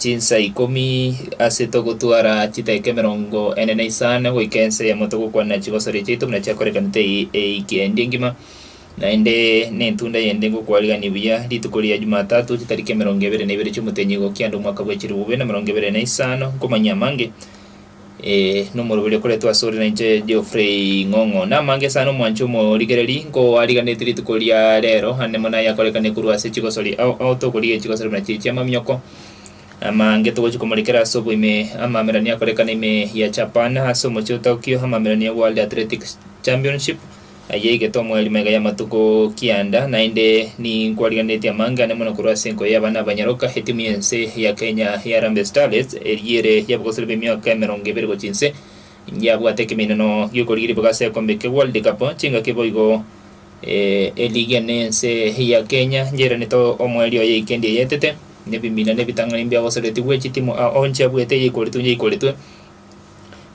Chinsa ikomi ase togotwara chidaeka emerongo ene na isano goika ensa eyemo togokwanera chibasuri chiaito buna chiakorekanete eiki endi engima, naende n'entunda yende ngokwarigania buya rituko ria Jumatatu chitariki emerongo ebere na ibere chi'omotenyi gokia ande omwaka bw'echilifu bibere na emerongo ebere na isano, nkomanyia amange. Eh, nomoroberi okoretwe ase ore nainche Geoffrey Ng'ong'o. Namange esano omwancho omorigereri nkoariganeti rituko ria rero ande mono ayakorekane korwa ase chigosori ao ao tokorigia chigosori buna chiri chia mamioko. Amange togochi komorekera ase oboime amamerani akorekane ime ya Japan ase omochie otagokio amamerani ya World Athletics Championship Eyio egetomwa eri mega y'amatuko kianda, naende ninkwarigereretie amange ane mono korwa ase enkoyo y'abana ba nyaroka. Etimu y'ense ya Kenya ya Harambee Starlets, eria ere y'abagosori b'emiaka emerongo ebere gochia inse, yabwate ekeminano gi'okorigia ribaga ase ekombe kia World Cup chingaki boigo eligi ane ense ya Kenya yairanete omoerio oye ikendi eyaetete, nebimina nebitang'ani mbiagosoretigwe chitimu ao onche abuete eyaikoretwe yaikoretwe.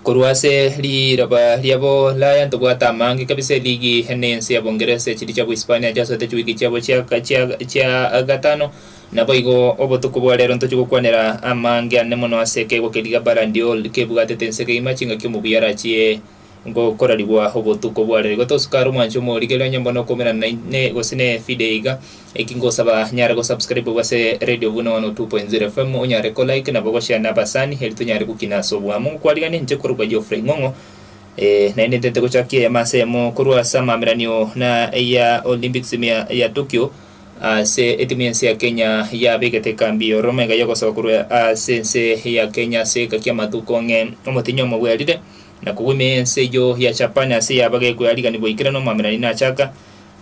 Korwa ase riroba ria Boulaya ntobwate amaange kabisa eligi ene ense ya Bongeresa, echiri chia Bohispania chiasoete chiwiki chiabo chia gatano. Naboigo obotuko bwa rero ntochie gokwanera amaange ane mono ase ekegwa keria Barandyold kebwatete ense kegima chingaki omubuya arachie ngokorarigwa obotuko bware. Igo tosukare omwanche omorigereria onye mbone okoumerana na ine gose ne video iga. Eki ngosaba nyare go subscribe gwase Radio Buna 102.0 FM onyare ko like nabo go share nabasani eri tonyare gokina ase oboamo. Ngokwarigania inche korokwa Geoffrey Ing'ong'o eh, naende ntete gochakia eyemo ase eyemo korwa ase amameranio na ya Olympics mia ya Tokyo ase etimu y'ense ya Kenya yabegete ekambi ya Roma iga yogosaba korwa ase ense ya Kenya ase egeka ki'amatuko ng'e omotinyi omo bwerire Na kogw'ime ense eyio ya Japan ase ey'abagekwa eariganigwa aikera nomwamerani nachaka,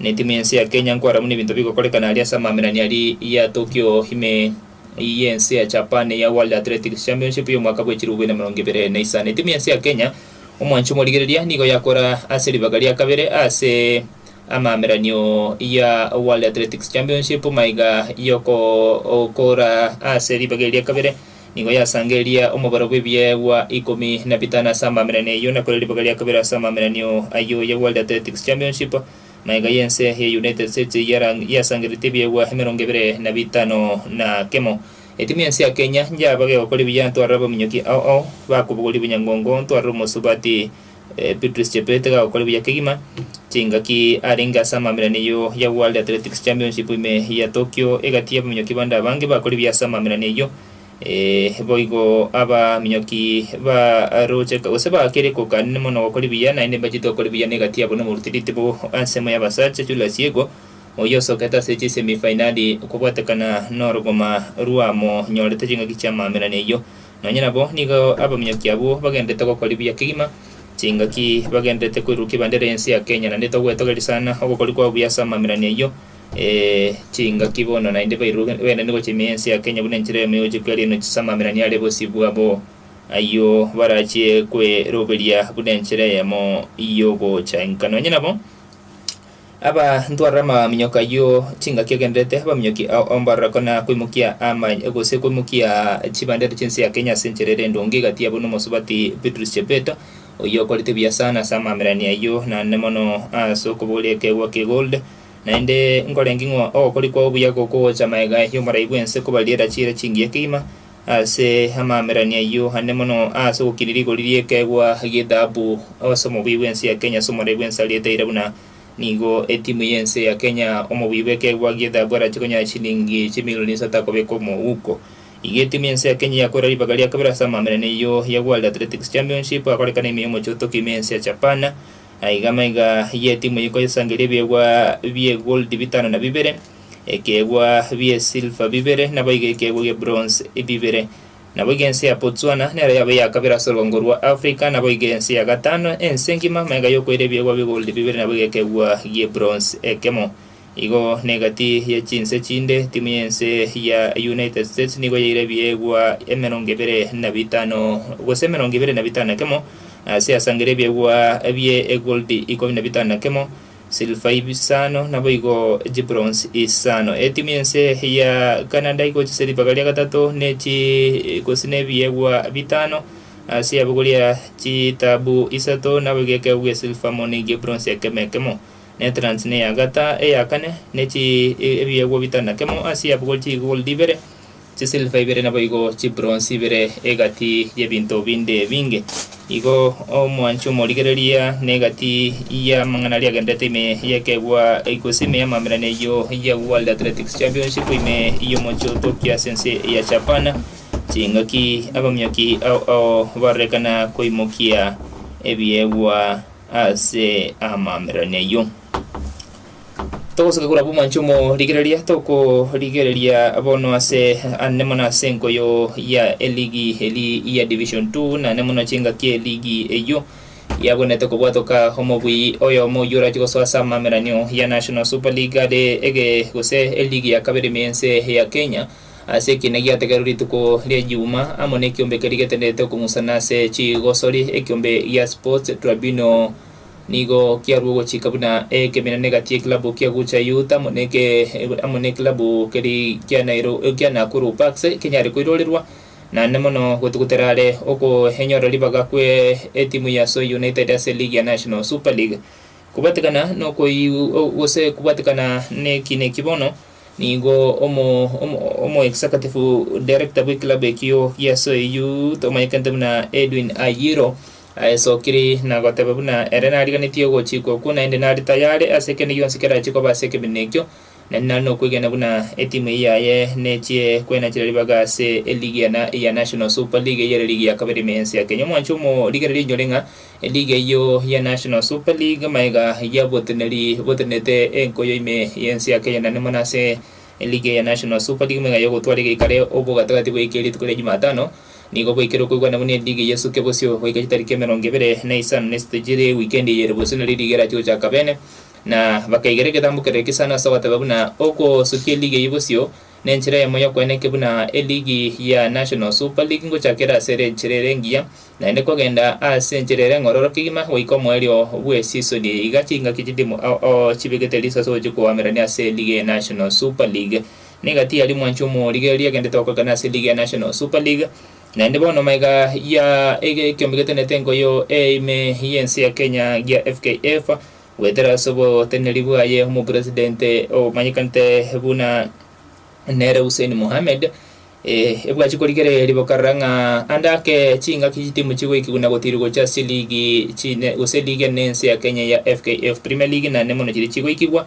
na etimu y'ense ya Kenya nkwarera buna ebinto bigokorekana aria ase amamerani aria ya Tokyo ime y'ense ya Japan eya World Athletics Championship y'omwaka bw'echilifu bibere na emerongo ebere na isano. Etimu y'ense ya Kenya omwancho omorigereria nigo yakora ase ribaga ria kabere ase amameranio ya World Athletics Championship maiga y'okoora ase ribaga eri ria kabere. Nigo yasangereria omobaro bw'ebiegwa ikomi na bitano ase amaminani ayio, na kore ribaga ria kabere ase amaminanio ayio ya World Athletics Championship, na iga y'ense ya United States yarang yasangereretie ebiegwa emerongo ebere na bitano na kemo. Etimu y'ense ya Kenya nyaabage gokora ebiya ntwarere abaminyoki ao ao, bakobogoria obonyangongo ntwarere omosubati, Eh, Beatrice Chepete gagokora buya kegima chingaki arenge ase amamirani eyio ya World Athletics Championship ime ya Tokyo egati y'abaminyoki bande abange bakore buya ase amamirani eyio eh, boigo abaminyoki baroche gose bakere kokanine mono gokora buya naende mbachete gokora buya na egati yabo nomoruti ritibo ensemo y'abasacha Julius Yego oyio osokete ase chisemi fainali kobwatekana norogoma rwamonyorete chingaki chi'amamirani eyio Nonya nabo nigo abaminyoki abwo bagenderete gokora ebiya kegima, chingaki bagenderete koirurukia ebendera y'ense ya Kenya, naende togwetogeria sana ogokori kwabo buya ase amamirani ayio, ee, chingaki bono naende bairuruke baenene gochia ime y'ense ya Kenya buna enchera yamo y'ogochia kweria enochi ase amamirani are bosio bwabo ayio barachie kweroberia buna enchera yamo y'ogocha inka. Nonya nabo. Aba ntwarire amaminyoka ayio chingaki agenderete abaminyoki ao ombororeko na koimokia amany gose koimokia chibandera chinse ya Kenya ase enchera ere endonge egati yabo nomosubati Beatrice Chepeta oyio okorete buya sana ase amamerani ayio naende mono ase okobogoria ekeegwa ki gold naende nkorenge ng'o ogokori kwao buya gokogocha magega yomorai bwense kobariera chiira chingiya kegima Ase amamerani ayio ane mono ase ogokina rigori ri'ekeegwa gi'ethahabu, ase omobuya bw'ense ya Kenya ase omorei bw'ense arietaire buna nigo etimu y'ense ya Kenya omobuya bw'ekeegwa gi'ethahabu arache konyara chilingi chimilioni isato akobeka omouko. Iga etimu y'ense ya Kenya yakoera ribaga ria kabere ase amamerani ayio ya World Athletics Championship agorekana ime y'omochie o Tokyo ime y'ense ya Japan. Aiga amaiga y'etimu eye koyesangeria ebiegwa bie goldi bitano na bibere. ekeegwa bi'esilver bibere, naboigo ekeegwa gi'ebronze bibere. Naboigo ense ya Botswana nero yabe eya kabere ase orwango rwa Africa, naboigo ense ya gatano ense engima maiga yokoira ebiegwa bi'egoldi bibere naboigo ekeegwa gi'ebronze ekemo. Igo negati ye chinse chinde, timu y'ense ya United States nigo yaira ebiegwa emerongo ebere na bitano gose emerongo ebere na bitano na kemo ase asangere ebiegwa bie egoldi ikomi na bitano na kemo Silver isano, naboigo chibronze isano. Etimu y'ense ya Canada igochia silver karia gatato ne chi gose ne ebiegwa bitano ase yabo koria chitabu isato naboigo ekeegwa gia silver amo ne egia ebronze ekemo ekemo. Netherlands neya gata eya kane ne chi ebiegwa bitano na kemo ase yabo koria chigoldi ibere. Chisilva ibere naboigo chibronsi ibere egati y'ebinto binde ebinge. Igo omwanchi omorigereria negati y'amang'ana aria agenderete ime y'ekeegwa egose ime y'amaambirane eyio ya World Athletics Championship ime y'omochie o Tokyo ase ense ya Japan chingaki abaminyoki ao ao barorekana koimokia ebiegwa ase amaambirane ayio. Togosoka korwa aba omwanche omorigereria, tokorigereria bono ase ande mono ase enkoyo ya eligi eri ya Division Two, na ande mono chingaki eligi eyio yabwenerete kobwatoka omobui oyomo oyio orache gosoa ase amameranio ya National Super League are ege gose eligi ya kabere ime y'ense ya Kenya ase ekiina giategererwa rituko ria Juma amo nekiombe keria getenderete okong'usana ase chigosori ekiombe gia Sports Tribunal Nigo kiarua ogochika buna ekeminana egati y'ekilabu kia Gucha Youth amo amo nekilabu keri kia Nairo kia Nakuru Parks kenyare koirorerwa, naende mono gotugutera are okoenyora ribaga kwe etimu ya Soy United ase eligi ya National Super League. Kobwatekana nokoi gose kobwatekana neki neki bono nigo omo omo omo executive director bw'ekilabu ekio gia Soy Youth omanyekanete buna Edwin Ayiro Aye Sokiri nagoteba buna ere nariganetie ogochikwa okwo, naende nare tayare ase kende gionsi kerachie koba ase ekeminto ekio, na inare nokwegena buna etimu eye yaye nechie kwenachera ribaga ase eligi ya na ya National Super League eyere ligi ya kabere ime y'ense ya Kenya. Omwancho omorigereria oinyore ng'a eligi eyio ya National Super League maega yaboteneri botenete enkoyo ime y'ense ya Kenya naende mono ase eligi eye ya National Super League maega yogotwara egeika re obogatagati goika rituko ria Jumatano Nigo gwaikire okoigwana buna endigi y'esuke bosio goika chitariki emerongo ebere na isano na isatu chire ewikendi eye ere bosio nario ligia riachia gochaka beene, na bakaigera egetambo kere egesano ase ogoteba buna ogosukia eligi eyio bosio nenchera eyemo y'okoena eke buna eligi ya National Super League ngochaka ere ase ere enchera ere engiya naende kogenda ase enchera ere eng'ororo kegima goika omoerio bw'esisoni iga chingaki chitimo chibegete riiso ase ogochia koamerania ase eligi ya National Super League. Niga tiyari mwanchi omorigereria egento etogokana ase ligi ya National Super League, naende bono maiga ya ekiombe getenete enkoyo eye ime y'ense ya Kenya gia FKF goetera ase oboteneneri bwaye omopresident omanyekanete buna nere Hussein Mohamed, ebwachi korigereria riboka rora ng'a ande ake chingaki chitimu chigoikigwa na gotirwa gocha ase ligi chine gose ligi enene ense ya Kenya ya FKF Premier League naende mono chiria chigoikigwa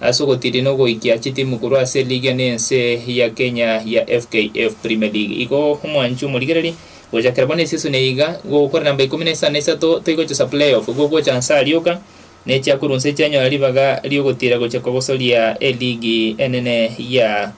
ase ogotiiri na ogoikia chitimu korwa ase eligi ya nense ya Kenya ya FKF Premier League. Igo omwanchi omorigereri gochakera bono eseason eye iga gokore namba ikomi na isano na isato toigochesa playoff igo gocha nse arioka nechiakorwa nse chianyora ribaga riogotiira gochia kogosoria eligi enene ya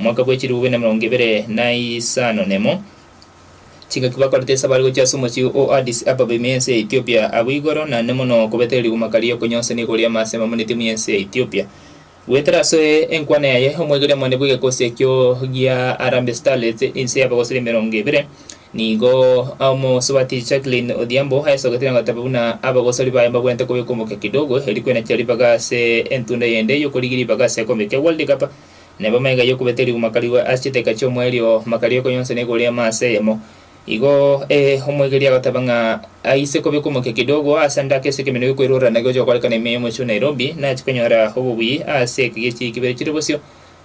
Omwaka bwe chilifu buna emerongo ebere na isano nemo, chingaki bakorete esaba are gochia ase omochie o Addis Ababa ime y'ense ya Ethiopia, abwo igoro naende mono kobetera riguma karia okonyonsania igoro y'amaaso amamoneti ime y'ense ya Ethiopia. Goetera ase enkwana yaye, omoigoria omone bw'egekosi ekio gia Harambee Starlets inse y'abagosori emerongo ebere, nigo omosubati Jacqueline Odhiambo aesogete na goteba buna abagosori baye mbabwenerete kobeka omokia kidogo erio kwena chia ribaga ase entunda yende y'okorigia ribaga ase ekekombe kia World Cup Na bamaiga y'okobeta erigwa makarigwa ase chiteka chi'omoerio, makaria okonyonsana igoro y'amo ase eyemo. Igo, ee, omoigereria agoteba ng'a aise kobekwa omokia kidogo ase endako esike emenwa y'okwerora na gocha gokorekana ime y'omochie o Nairobi, nache konyora obobuyi ase ekegechi ekebere chire bosio,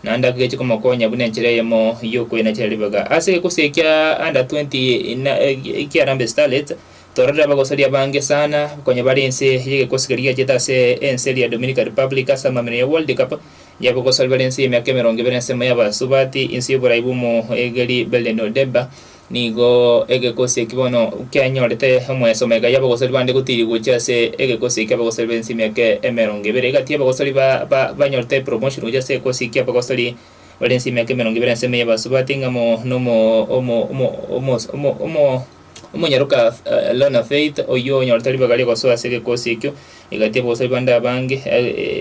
naende akegeche komokonya buna enchera eyemo y'okwena chire ribega. Ase egekusii ekia under twenty na ekia Harambee Starlets, tororire abagosori abange sana konya bare inse y'egekusii keria giachete ase ense eria Dominican Republic ase amaminyo ya World Cup, Yebo gose ribaria ense y'emiaka emerongo ebere ensemo y'abasubati, ense y'oborai bw'omoegeri Beleno Deba, nigo egekosi eki bono kianyorete omwesomba, egaia abagosori bande gotiiri gochia ase egekosi eki abagosori b'ense y'emiaka emerongo ebere. Egati abagosori ba ba banyorete promotion gochia ase egekosi eki abagosori bare ense y'emiaka emerongo ebere ensemo y'abasubati, ng'amo nomo omo omo omo omo omo. Omonyaroka Lorna Faith, oyio onyorete ribaga ri'ogosoa ase egekosi ekio, egati y'abagosa ba Ribande abange,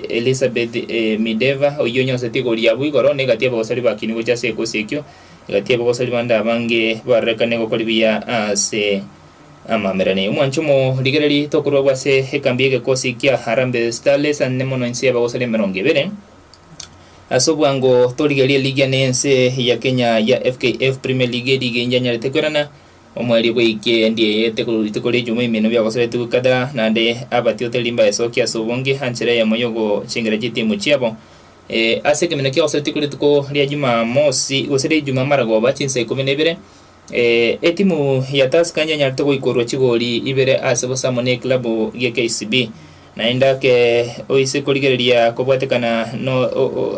Elizabeth Mideva, oyio onyoroseti igoro ya abwo igoro, na egati y'abagosori bakinigwe gocha ase egekosi ekio, egati y'abagosa ba Ribande abange barorekane gokori buya ase amamererania. Omwanche omorigereri tokorua abwo ase ekambi y'egekosi kia Harambee Starlets, ane mono inse y'abagosori emerongo ebere. Ase obwango torigerie ligi ya nense ya Kenya ya FKF Premier League eri ige inche anyarete koirana omwerio bweike ndieyete korwa rituko ria ejuma emino biagosoetigwe kadha naende abatioteri mbaesokie ase obonge anchera eyemo yogochengera chitimu chiabo Eh, ase ekeminio kiagosoetigwe rituko ria jumamosi gose ria ejuma maragoba chinsa ikomi na ibere Etimu ya Tusker yenyarete goikorwa chigori ibere ase bosamo n'ekilabu gie KCB, naende ake oise korigereria kobwatekana no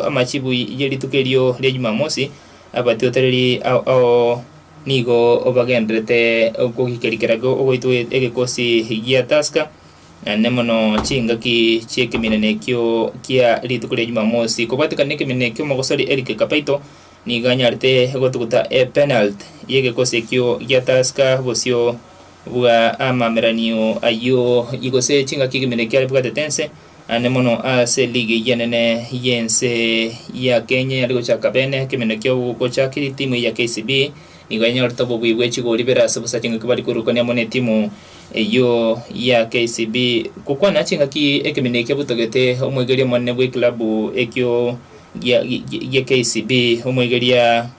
amachibu ye rituko erio ria Jumamosi, abatiotereri ao nigo bagendererete kogikerikera ogoitwa egekosi gia Tusker, naende mono chingaki chi'ekeminana ekio kia rituko ria Jumamosi. Kobwatekana nekeminana ekio, omogosori Eric Kapaito Nigo anyarete gotuguta epenalty y'egekosi ekio gia Tusker bosio bwa amameranio ayio gose chingaki ekeminto eki aribwatete ense ane mono ase ligi eyio enene y'ense ya Kenya eyare gochaka bene. Ekeminto ekio gochakiri timu eyio ya KCB nigo yanyorete obobui bwe chigori bere ase bosa chingaki bari koirukania amo n'etimu eyio ya KCB. Gokwana chingaki ekeminto ekio butogete omoigereria omonene bw'ekilabu ekio gia, gi- gi- gia KCB, omoigeria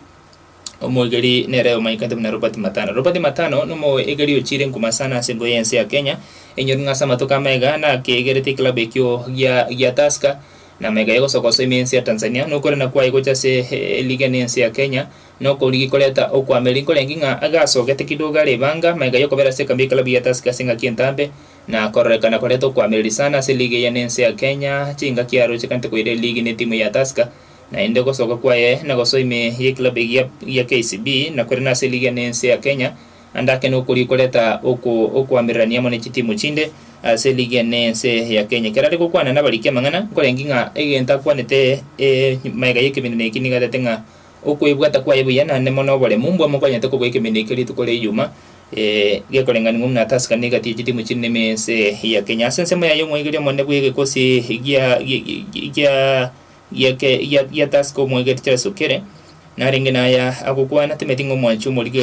omoigeri nere omanyekete buna Robert Matano. Robert Matano nomoigeri ochire enkuma sana ase embuya y'ense ya Kenya, enyori ng'a ase amatuko amaiga nakegerete ekilabu ekio gia gia Tusker, na amaiga yagosoka gose ime ense ya Tanzania, nokorenda kwaye gocha ase eh, eligi ene ense ya Kenya, nokorigi koreta okwama. Eri nkorengi ng'a agasogete kidogo are ebanga, amaiga yokobera ase ekambi y'ekilabu gia Tusker ase engaki entambe, Na kororekana koria tokoamereri sana ase ligi eye nense ya Kenya, chingaki aro chigante koira eligi ne timu ya Tusker, naende gosoka kwaye na gosoa ime ye club egiya gia KCB, na korende ase ligi ya nense ya Kenya ande ake nokoria ikoreta okoamererania amo ne chitimu chinde ase ligi ya nense ya Kenya. Ekero are gokwana nabariki amang'ana, nkorengi ng'a egento akwanete e maega y'ekeminana eki niga atete ng'a Okwebwata kwaye buya naende mono oboremu mbwa mokonyete kobua ekeminto ekio rituko ria iyuma gekorenganiwa buna Tusker na egati ye chitimu chinde ime ense ya Kenya. Ase ensemo yaye omoigereria omonene bw'egekosi gia Tusker omoegete Charles Okere narenge naya agokwana timeti ng'a omwanchi omorigi.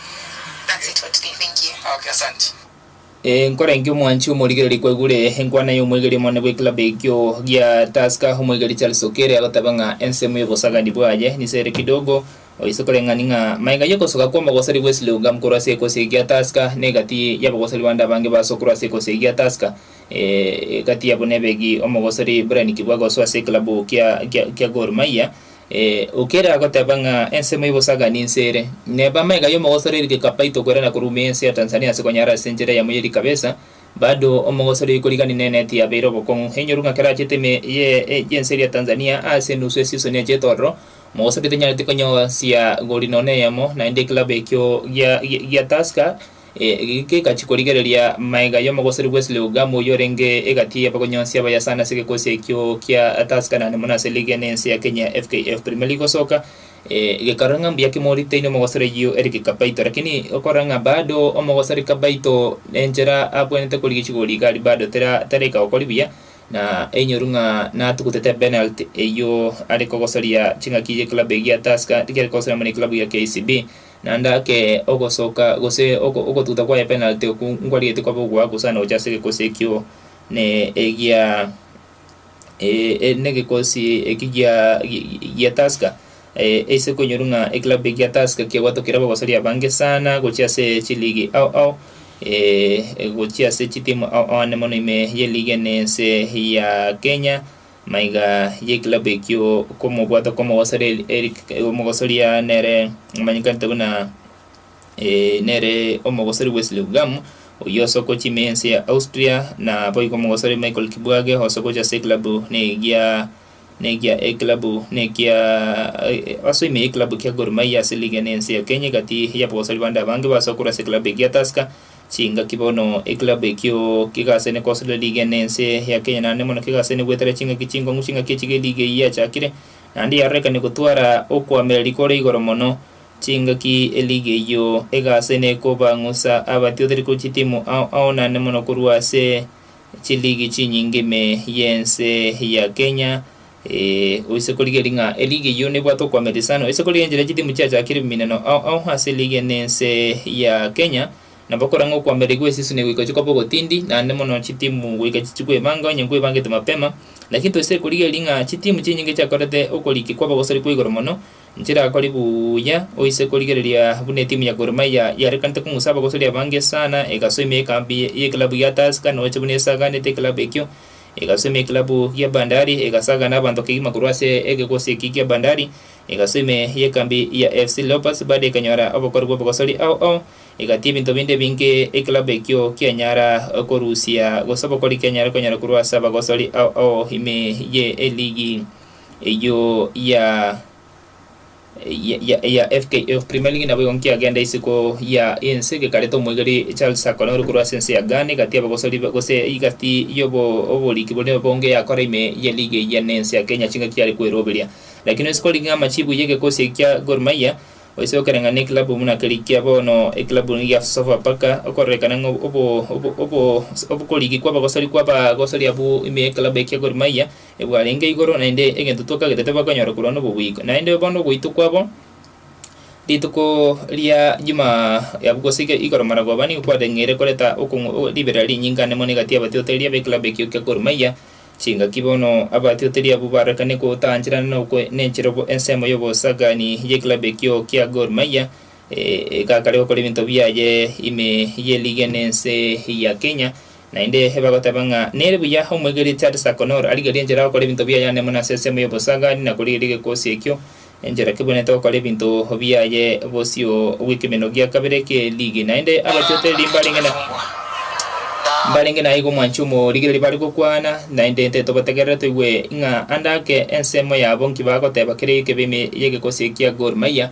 Nkorenge omwanchi omorigereri kwaigure enkwana y'omoigeri omonene bw'ekilabu ekio gia Tusker, omoigeri Charles Okere agotabe ng'a ensemo y'obosagani bwaye niso ere kidogo oise koreng'ani ng'a maega y'ogosoka kw'omogosori bw'Esli Ogam korwa ase ekosi eye gia Tusker na egati y'abagosori bande abange baso korwa ase ekosi eye gia Tusker egati yabo nebe gi omogosori Brian Kibwaga osoa ase ekilabu kia Gor Mahia Ee, okere agoteba ng'a ensemo y'obosagani inse ere, neba amaiga y'omogosori eri gekapaito kwera na korumia ense ya Tanzania ase konyara ase enchera yamo y'eri kabesa, bado omogosori oyo korigani neneti yabeire obokong'u enyoru ng'a kerachete ime ye y'ense eria Tanzania aase enusu esisoni ya chetororo, omogosori tenyaneti konyosia gori nono eyemo, naende ekilabu ekio gia gia Tusker Eki kegachia korigereria maega y'omogosori bwe Sileugamo oyio orenge egati y'abagonyonsi abaya sana ase egekosi ekio kia Tuscallan mono ase ligi ene ense ya Kenya FKF Premier League gosoka. Gekarora ng'a mbuya ki moritaini omogosori oyio Eric Kapaito lakini okorora ng'a bado omogosori Kapaito enchera abwenerete korigia chigori iga aria bado tera teraika gokori buya na einyoru ng'a natugutete penalty eyio are kogosoria ching'aki ye club eye gia Tusker riria are kogosoria mono eclub eye ya KCB Naende ake ogosoka gose ogotuta kwaye epenalty okwo nkwarigetie kwaba ogoa gose aane gocha ase egekosi ekio ne egia ne egekosi eki gia gia Tusker ase okonyorwa ng'a eclub ekia Tusker kiabwatokire abagosoria abange sana gochia ase chiligi ao ao gochia ase chitimu ao ao aane mono ime ye liga ene ense ya Kenya. Maiga y'ekilabu ekio okomobwata kw'omogosori Eli- Eric omogosoria nere omanyekanete buna eh, nere omogosori Wesley Ugamu oyio ase okocha ime y'ense ya Austria na boigo omogosori Michael Kibwage ose ogocha ase ekilabu negia negia ekilabu nekia eh, ase ime y'ekilabu kia Gor Mahia ase liga ene y'ense ya Kenya egati y'abogosori bande abange basokorwa ase ekilabu egia Tusker Chingaki bono ekilabu ekio kegaasene kosoria liga ene ense ya Kenya naende mono kegaasene gwetera chingaki chinkong'u chingaki echi geliga eyio yachakire naende yarorekania gotwara okoamereri kore igoro mono chingaki eliga eyio egaasene kobang'usa abatioreti korwa chitimu ao ao naende mono korwa ase chiligi chinyinge ime yense ya Kenya Ee, oise korigeria ng'a eriga eyio nebwate okoamererisa ano. Oise korigeria enchera chitimu chiachakire ebiminano ao ao ase eriga eye na ense ya Kenya, nabo kora ng'a okoamereri gwa esisuni goika chikoba ogotindi, naende mono chitimu goika chichi kwebanga onye nkwebangete mapema. Lakini toise korigeria ng'a chitimu chinyinge chiakorete okoriki kwa abagosori kwa igoro mono, nchirakore buya. Oise korigereria buna etimu ya Gor Mahia yarekanete kong'usa abagosori abange sana, egasoimia ekambi y'ekilabu gia Tusker, na oche buna esaganete ekilabu ekio, egasoimia ekilabu gia Bandari, egasagana abanto kegima korwa ase egegosi eki gia Bandari, egasoa ime y'ekambi ya FC Leopards baada ekanyora obokori bw'obogosori ao ao, egatia ebinto binde ebinge ekilabu ekio kianyara korusia, gose obokori kianyare konyora korwa ase abagosori ao ao ime ye eligi eyio ya. ya, ya, ya FKF Premier League nabo igo nkiagenda isiko ya ense gekarete omoigeri Charles Akone ore korwa ase ense ya Ghane gati abagosori ba- gose igati yobo oboriki bore bonge yakora ime ye league eyia ne ense ya Kenya chingaki chiare kweroberia lakini oise korigi ng'a amachibu ye gekosi eki kia Gor Mahia oise gokera ng'a ne club buna keri kia bono eclub eye ya Sofapaka okororekana ng'a obo obo obo obo obokorigi kwa abagosori kwa abagosori abwo ime ye club eki ya Gor Mahia Ebwarenge igoro naende egento twakagete tibakonyora korwa noboguiko, naende bono ogoitwa kwabo rituko ria juma yabu gose iga igoro maragoba ba nigo kwadeng'eire koreta okong'u o riberera rinyinga ane mono egati y'abatiotereri ab'ekilabu ekio kia Gor Mahia, chingaki bono abatiotereri abwo barorekane gotaancherana na okwe nenchera obo ensemo y'obosagaani y'ekilabu ekio kia Gor Mahia egakare gokora ebinto biaye ime y'eliga ense ya Kenya. Naende bagoteba ng'a nere buya omwegereti Arsakonor arigerie enchera gokora ebinto biaye ande mono ase ensemo y'obosagaani na korigeria gekosi ekio, enchera kebwenerete gokora ebinto biaye bosio bw'ekemenwa gia kabere kie ligi. Naende abatiote riria mbarenge na mbarenge naigo omwanchi omorigereria bare gokwana, naende nte tobategerere toigwe ng'a ande ake ensemo yabo nki bagoteba kere ekebe ime y'egekosi ekia Gor Mahia,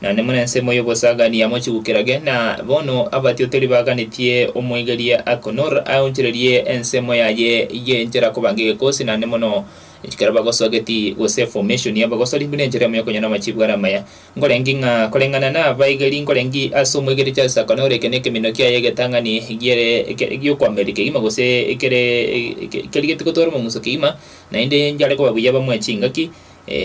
naende more ensemo y'obosagania mochigukirage, na bono abatiotori baganetie omoigerie Akonor aonchorerie ensemo yaye y'enchera koba ng'egekosi naende mono ekero bagosoa geti gose formation y'abagosori buna enchera emo y'okonyora amachiibu are amaya. Nkoreng'ki ng'a koreng'ana nabaigeri nkoreng'ki ase omoigerie Charles Akonor eke nekeminto kiaye egetang'ani giere gi'okoamereri kegima gose kere kerigetie gotwara omomuso kegima, naende njare koba buya bamoe chingaki,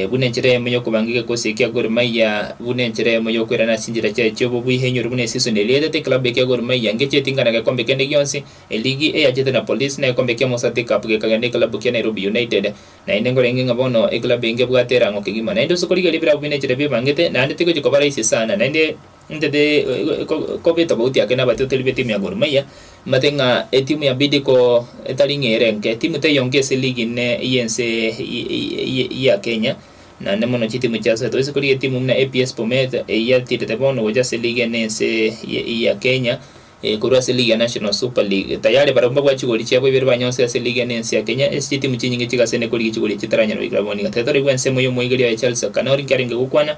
buna enchera eyemo y'okobangigeka gose ekia Gor Mahia buna enchera eyemo y'okoirana ase enchera chiaye chiobobe oihinyore buna eseason erietete ekilabu ekia Gor Mahia ngeche etinga na gekombe kende gionsi, eligi eyachete na Police na egekombe kia Mosati Cup gekagenda ekilabu kia Nairobi United. Naende nkorenge ng'a bono ekilabu engebwate erango kegima naende ose korigereria ebilabu buna enchera biebangete naende tigochi koba raisi sana naende Intete kobeta goti ake nabatoteri be timu ya Gor Mahia mbate ng'a etimu ya Bidco etari ng'a ere enke. Timu teiyo enke ase ligi ime y'ense ya Kenya, naende mono chitimu chiasoete. Toise korigia etimu buna APS Bomet eyia etiirete bono gocha ase ligi ene y'ense ya Kenya, korwa ase ligi ya National Super League. Tayari barabwo mbabwate chigori chiabo ibere banyonsete ase ligi ene y'ense ya Kenya, ase chitimu chinyinge chigasene korigia chigori echi etaranyara goika bono iga. Tiga toraigwe ensemo y'omoigeria oye Charles Akanori inki arenge gokwana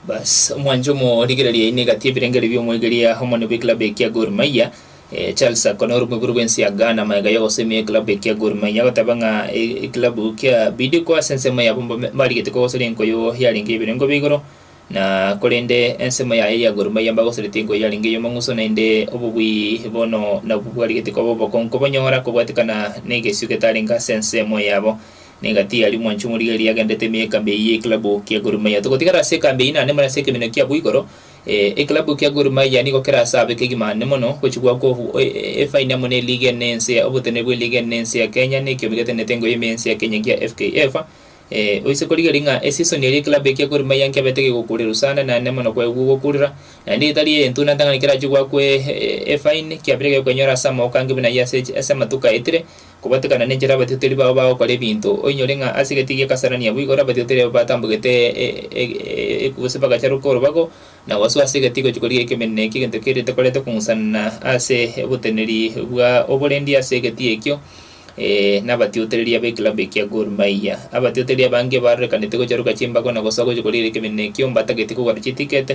Baas, omwancha omo o rigira riaino egati y'ebirengerio bi'omwegeria omonene bw'ekilabu ekia Gor Mahia, Charles Akona ore moibori bw'ense ya Ghana amaega y'ogosemia ekilabu ekia Gor Mahia agoteba ng'a ekilabu kia Bidco ase ensemo yabo mbarigete kogosoria enkoyo yarenge y'ebirengo bia igoro na korende ensemo yaye ya Gor Mahia mbagosorete enkoyo yarenge y'omong'uso naende obobui bono nabwo bwarigete koba obokongo kobonyora kobwatekana n'egesio getarenge ase ensemo yabo na egati yaria omwancha omorigereria agendete ime y'ekambi eyio y'ekilabu kia Gor Mahia. Togotigara ase ekambi eyio naende more ase ekeminyo kiabo igoro. Ee, ekilabu kia Gor Mahia nigo kera ase abe kegima aande mono gochia goakwa efaini amo n'eligi enene y'ense ya oboteneneri bw'eligi enene y'ense ya Kenya na ekiombe getenenete engoye ime y'ense ya Kenya ekiya FKF. Ee, oise korigereria ng'a eseason eria ekilabu ekia Gor Mahia nkiabete kegokuurerwa sana naende mono kwaigwa gokuurera naende etari eyentunanta ng'a nekerachie goakwa efaini, kiabire gekwenyora ase amagoka ange buna ayio ase ase amatuko aetire Kobatekana nenchera abatiotori bao bagokora ebinto, oinyore ng'a ase egati gi'ekasarani abwo igoro abatiotori abo batambogete gose bagacharoka orobago na gosoa ase egati gochia korigia ekemeneno ekio egento keria tokorete kong'usana ase oboteneri bwa oborendi ase egati ekio nabatiotoreri abe club ekia Gor Mahia. Abatiotoreri abange barorekanete gocharoka chimbago na gosoa gochia korigia ekemeneno ekio mbatagete kogora chiticket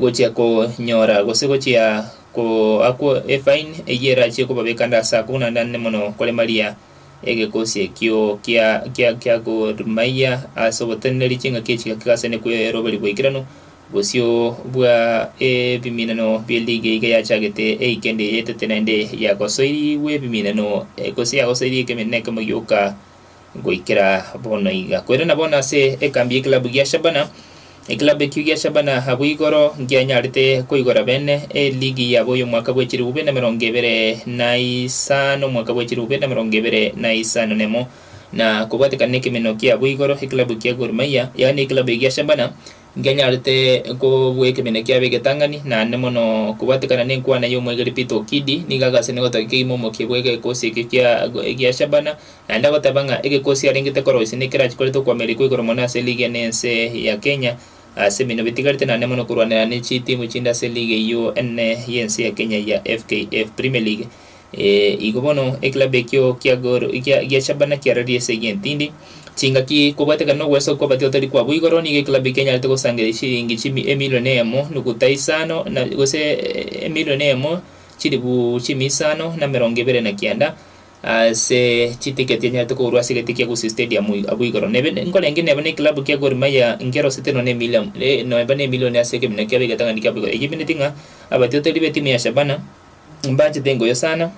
gochia konyora gose gochia goakwa efine eyio erachie kobabeka ande ase ako buna naende mono koremaria egekosi ekio kia kia kia Gormahia ase ogoteneneri chingaki echi gaki gase kweroberi boikeranu bosio bwa ebiminano bie league iga yachagete eikendi eyetete naende yagosoirigwe ebiminano gose yagosoirigwe ekeminano ekemo gioka goikera bono iga. Koirana bono ase ekambi y'ekilabu gia Shabana, ekilabu ekio gia Shabana abwo igoro nkianyarete koigora bene eligi yabo y'omwaka bwe chilifu bibere na emerongo ebere na isano omwaka bwe chilifu bibere na emerongo ebere na isano na emo, na kobwatekana nekemeno kiabo igoro ekilabu kia Gor Mahia, yaani ekilabu egia Shabana Nkenyarete kobua ekeene kiabo egetang'ani, naende mono kobatekana nenkwana y'omwegeri Peter Okidi, nigo agasena egotaki kegima omokie bw'egekosi ekio kia gia Shabana, naende agoteba ng'a egekosi arengete koroisia nekerachia koreta okoamerikwa igoro mono ase ligi ene ense ya Kenya ase ebinto bitigarete naende mono korwanera ne chitimu chinde ase ligi eyio enene y'ense ya Kenya ya FKF Premier League. Ee, igo bono ekilabu ekio kia Gor- kia- gia Shabana kiararie ase egenti tindi chingaki kobwatekana nogwesa kwa abatio otari kwabo igoro, nigo ekilabu ekio enyarete gosangereria chiliingi chimi- emilion eyemo nuguta isano na gose emilion eyemo chilifu chimi isano na emerongo ebere na kianda ase chitiketi enyarete kogorwa ase egete kia Gusii Stadium ig- abwo igoro. Nebe nkorenge neba na ekilabu kia Gor Mahia nkerosete nonye na emilion eh neba na emilion ase ekebina kiabo egetang'ani kiabo igoro. Eyio emenyete ng'a abatio otari ba etimu ya Shabana. Mbaachete engoyo sana,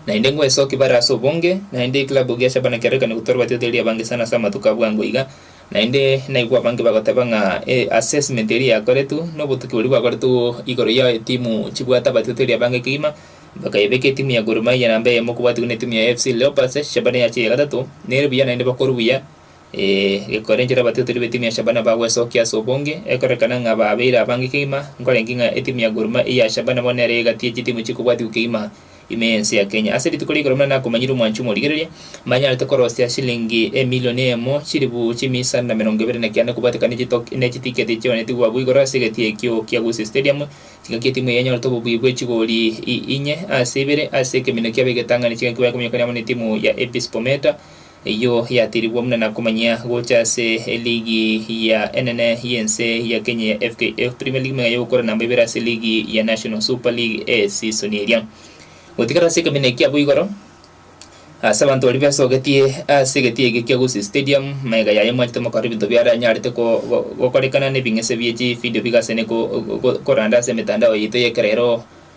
naende ngwesokia bare ase obonge, naende ekilabu gia Shabana kiarorekane gotwarwa batioti eria abange sana ase amatuko a bwango iga, naende naigwe abange bagoteba ng'a eh, assessment eria yakoretwe, na obotuki boria bwakoretwe igoro ya etimu chibwate abatioti eria abange kegima, bakayebeka etimu ya Gor Mahia namba eyemo kobatigwa na etimu ya AFC Leopards, Shabana yache ya gatato, nere buya naende bakore buya, Ee, gekorenchera abatiatori b'etimu ya Shabana bagwesokia ase obonge, ekorekana ng'a baabeire abange kegima, nkorengie ng'a etimu ya Gor Mahia ya Shabana bono nere egati ye chitimu chikobwatigwa kegima ime y'ense ya Kenya. Ase rituko rigoro buna nakomanyire omwanchi omorigereria, mbanyarete korosia shillingi emilioni eyemo, chilifu chimia isano na emerongo ebere na kianda kobwatekana ne chito ne chitiketi chionetigwe abwo igoro ase egati ekio kia Gusii Stadium, chingaki etimu eye enyorete obobuya bwe chigori i inye ase ibere ase ekemino kiabo egetang'ani chingaki baye kominyoka amo n'etimu ya APS Bomet Eyio yatirigwe buna na komanyia gocha ase eligi ya enene y'ense ya Kenya ya FKF Premier League meng'enye gokora namba ibere ase ligi ya National Super League esisoni eria. Gotigara ase ekeminyo ekia abwo igoro ase abanto baria besogetie ase egetii ekio kia Gusii Stadium maega yaye mwachete mokarora ebinto biaranyarete gokorekana n'ebing'ese bie chividio bigasene koranda ase emetandao yaito y'ekerero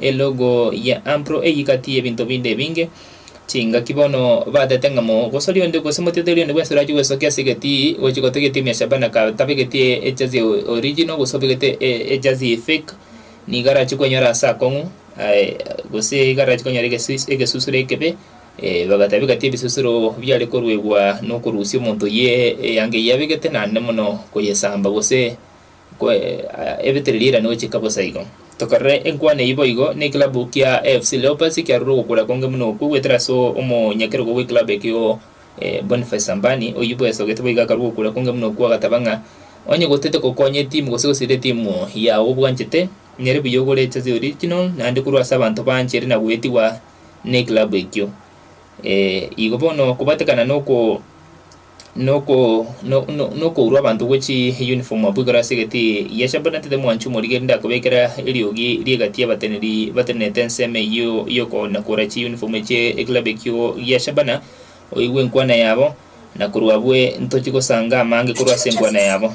Elogo ya Ampro eyio gati y'ebinto binde ebinge, chingaki bono batete ng'a mogosori onde gose moteteri onde bw'ensoro achie gwesoka ase egetii gochia gotega egetii mia Shabana ka tabegeti ejazi original gose obegete ejazi efake nigo arachi kwenyora ase akong'u gose iga arachi kwenyora egesusu egesusuro ekebe bagatabia gati ebisusuro biare koruegwa nokorusia omonto oyio eanga eyio abegete naende mono koyesamba gose Kwe, aya ebetereri erania gochika bosa igo. Tokarere enkwana eyio boigo nekilabu kia AFC Leopards kiarure ogokora konge buna okwo goetera ase omonyakerogo bwekilabu ekio Boniface Sambani oyio bwesogete boigo akarua ogokora konge buna okwo agataba ng'a onye gotete gokonya etimu gose gosira etimu yao obwanchete nyare buya ogore jersey original naende korwa ase abanto banche ere nagoetigwa nekilabu ekio. Igo bono kobatekana noko. nokourwa abanto gwe chi uniform abwo igoro ase egati ya shamba na tete mwanchu morige rinde akobekera eriogi rie egati y'abateneri batenenete ensemo eyio y'oko na kora chi uniform eche ekilabu ekio gia shabana oigwe enkwana yabo na korwa abwe ntochi gosanga amange korwa ase enkwana yabo.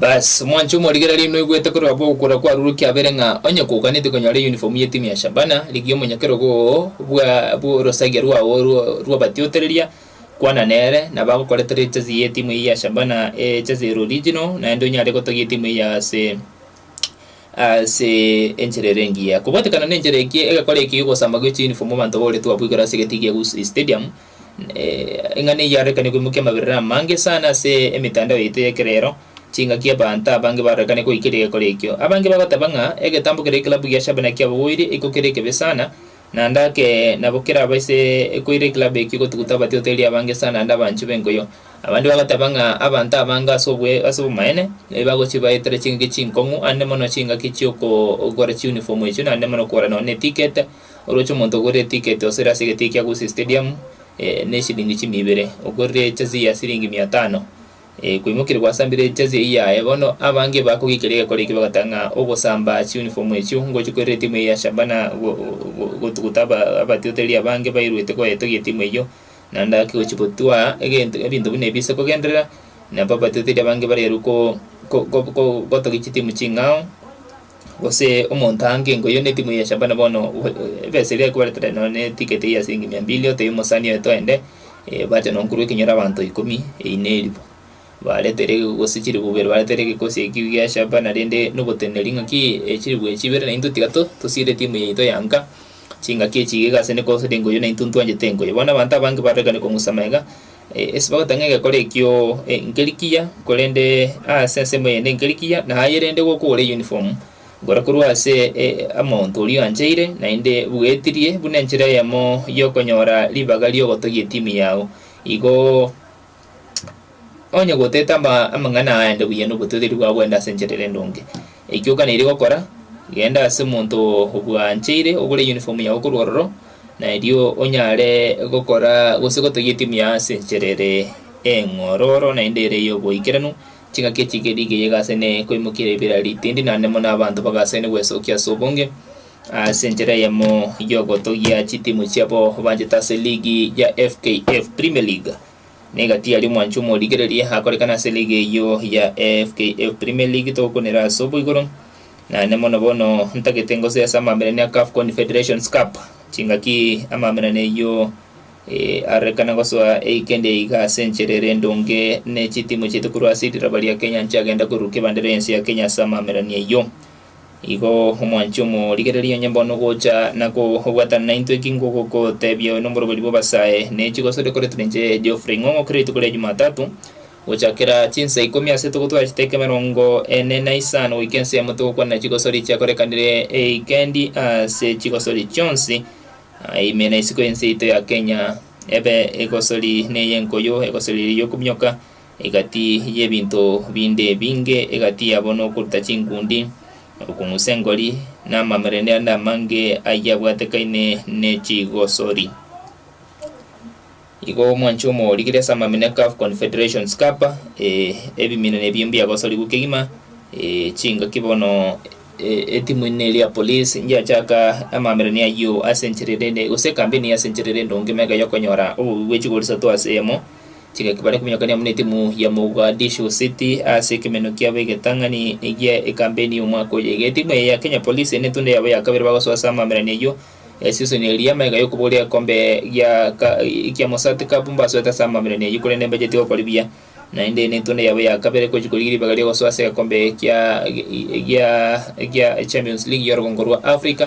Bas, omwancha omorigereria oino oigwete korwa aba ogokora kwarurokire abere ng'a onye koganetie konyora eyunifomu y'etimu ya Shabana rigia omonyokerogo oo bwa bw'orosagia rwao rw rw'abatiotereria, kwana nere, na bagokoretera ejezi y'etimu eyio ya Shabana, ejezi ere original, naende onyare gotogia etimu eyio ase ase enchera ere engiya. Kobatekana nenchera eki, egekora eki gi'ogosamba goicha eyunifomu abanto bagoretwe abwo igoro ase egete gi'Egusii Stadium, Ing'ana eyio yarorekanirie koimokia amaberero amange sana ase emetandao yaito y'ekero ero. Chingaki abanto abange barorekanirie goika rigekore ekio. Abange bagoteba ng'a egetambo kere ekilabu gia Shabana kiabogoire iko kere ekebe sana, naende ake nabo keraba ase ekoire ekilabu ekio gotuguta abatiotoria abange sana naende abanchwi b'enkuyo. Abande bagoteba ng'a abanto abange ase ase obomaene bagochia baetera chingaki chinkong'u aande mono chingaki chi'okogora chiuniform echio naende mono okogora nonya ne ticket Oroche omonto ogorire etiketi osire ase egeteyi kia Gusii Stadium neshilingi chimi ibere, ogorire ejezi ya silingi mia tano. Kwaimokirie gwasambire ejezi eyio yaye, bono abange bakogiikeria egekora ekio bagoteba ng'a ogosamba chiunifomu echio ngochia koirera etimu eyio ya Shabana gotuguta abatiotereri abange bairuete koyetogia etimu eyio naende gaki gochia gotwa egento ebinto buna ebi ase kogenderera nabo abatiotereri abange barerwe ko gotogia chitimu ching'ao. Gose omonto aange nkoyio netimu ya Shabana bono gwe- eh, ebesa eria ekweretera nonya ne ticket eyio ya siringi mia mbili otebie omosani oye toende eh, bache no nkorwa ekenyoro abanto ikomi eyi neribu baretere ge- gose chiribu ibere baretere gekosi ekio gia Shabana rende noboteneneri ng'aki eh, chiribu echi ibere naintwe tiga to- tosiire timu eye yaito ya Enka. Chingaki echi iga igase ne kosaria engoyo naintwe ntwanchete engoyo. Bono abanto abange barorekane kong'usama iga, e, ase bagoteba ng'a egekora ekio e, nkeri kiya, korende ase ensemo eyende nkeri kiya, na aye rende igo okogora eyunifomu gora korwa ase e, omonto oria oancheire, naende bwetirie buna enchera eyemo y'okonyora ribaga ri'ogotogia etimu yao. Igo. Onye goteete ama- amang'ana aya aende buya nobotoigeri bwao bwende ase enchera ere endonge, eikio okanaire gokora, genda ase omonto obwancheire ogore yunifomu yao korwa ororo, na erio onyare gokora gose gotogia etimu yao ase enchera ere eng'ororo naende ere ey'oboikeranu, chingaki echi geri geyegase ne koimokia ribera ritindi naende mono abanto bagasaine gwesokia ase obonge. Ase enchera eyemo y'ogotogia chitimu chiabo banchete ase ligi ya FKF Premier League, niga tiyari omwancho omorigereria akorekane ase ligi eyio ya FKF Premier League togokunera ase oboigoro. Naende mono bono ntagete ngoso ase amaberani a CAF Confederations Cup, chingaki amaberani eyio eh, arekana gosoa eikendi eye iga ase enchera ere endonge ne chitimu chiaito korwa ase riroba ria Kenya nchiagenda koruruka ebendera y'ense ya Kenya ase amaberani eyio. Igo omwanchi omorigereria onye mbono gocha na kobwatana naintwe eki ngogotebia nomoroberi bw'abasae, ne chigosori okoretwa ninche Geoffrey Ng'ong'o kera rituko ria Jumatatu, gochakera chinsa ikomi ase togotwara chiteko emerongo ene na isano goika ensemo togokwanera chigosori chiakorekanire ewikendi ase chigosori chionsi ime na isiko y'ense yaito ya Kenya, ebe egosori neye enkoyo, egosori eye y'okominyoka, Egati y'ebinto binde ebinge, egati yabo nokoruta chingundi, orokong'usa engori, na amamerende ande amange ayio abwatekaine ne chigosori. Igo omwanchi omorigirie ase amamina Calf Confederations Cup, eh, ebiminani ebio mbiagosorigwe kegima, eh, chingaki bono, eh, etimu ime eri ya Police ngiachaka amamerene ayio ase enchera erende, gose ekambeni ase enchera erende onge mega yokonyora obobe bwe chigori isato ase eyemo, Tiga bare kominyokania buna etimu ya Mogadishu City ase ekemenyo kiabo egetang'ani egia ekambeni y'omwaka oyega. Etimu eye ya Kenya Police n'etundo yabo ya kabere bagosoa ase amamerani ayio esisoni eria y'amaega y'okobogoria egekombe gia ka kia Mosat Cup mbasoete ase amamerani ayio korende mbacheti gokori buya naende n'etundo yabo ya kabere gochi korigia ribaga ri'ogosoa ase egekombe kia gia gia Champions League y'orogongo rwa Africa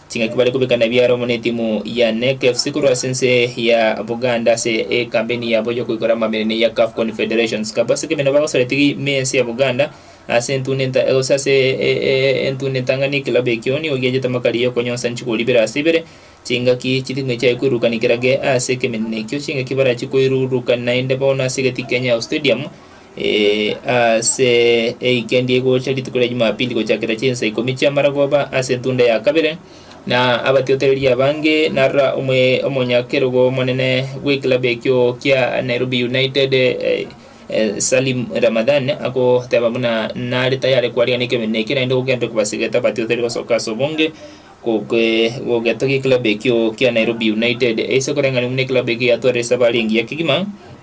Chingaki bare kobekana biara amo netimu ya NEC FC korwa ase ense ya Buganda ase ekambeni yabo yokoikora amamenene ya CAF Confederations Cup ase kemeno bagosora etegi me ense ya Buganda ase entune gose ase entune etang'ani ekilabu ekio nigo giachete amakari yokonyonsa nchigori ibere ase ibere chingaki chitimwe chiaye koirurukani kerage ase ekemenene ekio chingaki barachie koirurukani naende bono ase egeti Kenyao Stadium Ee, ase eikendi egocha rituko ria Jumapili gochakera chinsa ikomi chi'amaragoba ase entunda ya kabere, na abatiotoreria abange narora omwe omonyakerogo omonene bw'ekilabu ekio kia Nairobi United eh, eh, Salim Ramadhan agoteba buna nare tayare kwarigia nekebeene eke naende gogenda kobasegeta abatiotoreria gosoka ase obonge goke- gogetogia ekilabu ekio kia Nairobi United eise koreng'ana buna ekilabu ekio yatwarire esabari engiya kegima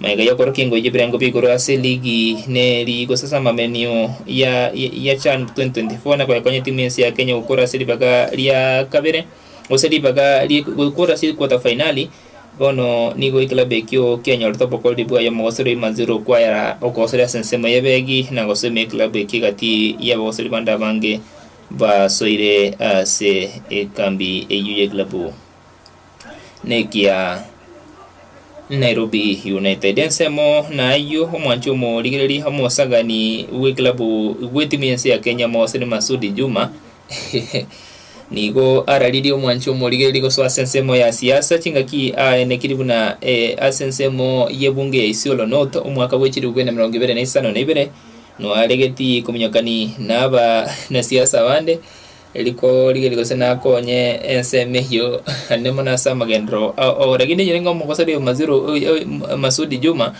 Maiga y'okorokia engoyi y'ebirengo bia igoro ase ligi ne ligi gosesa amamenyo ya ya CHAN 2024 na koyekonya timu y'ense ya Kenya gokora ase ribaga ria kabere gose ribaga rie gokora ase quarter finali bono nigo ekilabu ekio kianyorete obokoreri bwaye omogosori o Imanzi Rukwayara okogosoria ase ensemo y'ebeegi na gosima ekilabu ekio egati y'abagosori bande abange basoire ase ekambi eyio y'ekilabu. nekia Nairobi United. Ensemo nayio omwanchi omorigereria omosagani bw'ekilabu bw'etimu y'ense ya Kenya Mohsen Masudi Juma nigo araririe omwanchi omorigereria gosoa ase ensemo ya siasa chingaki aenekiri buna eh, ase ensemo y'ebunge ya Isiolo North omwaka bwe chilifu bw'ina mirongo ibere na isano na ibere nwaregeti kominyokani naba na siasa abande Eriko rigerio gose nakonye ense emehio naende mono ase amagenderero ao oo. Lakini erio nigo omogosori oyo Maziru Masudi Juma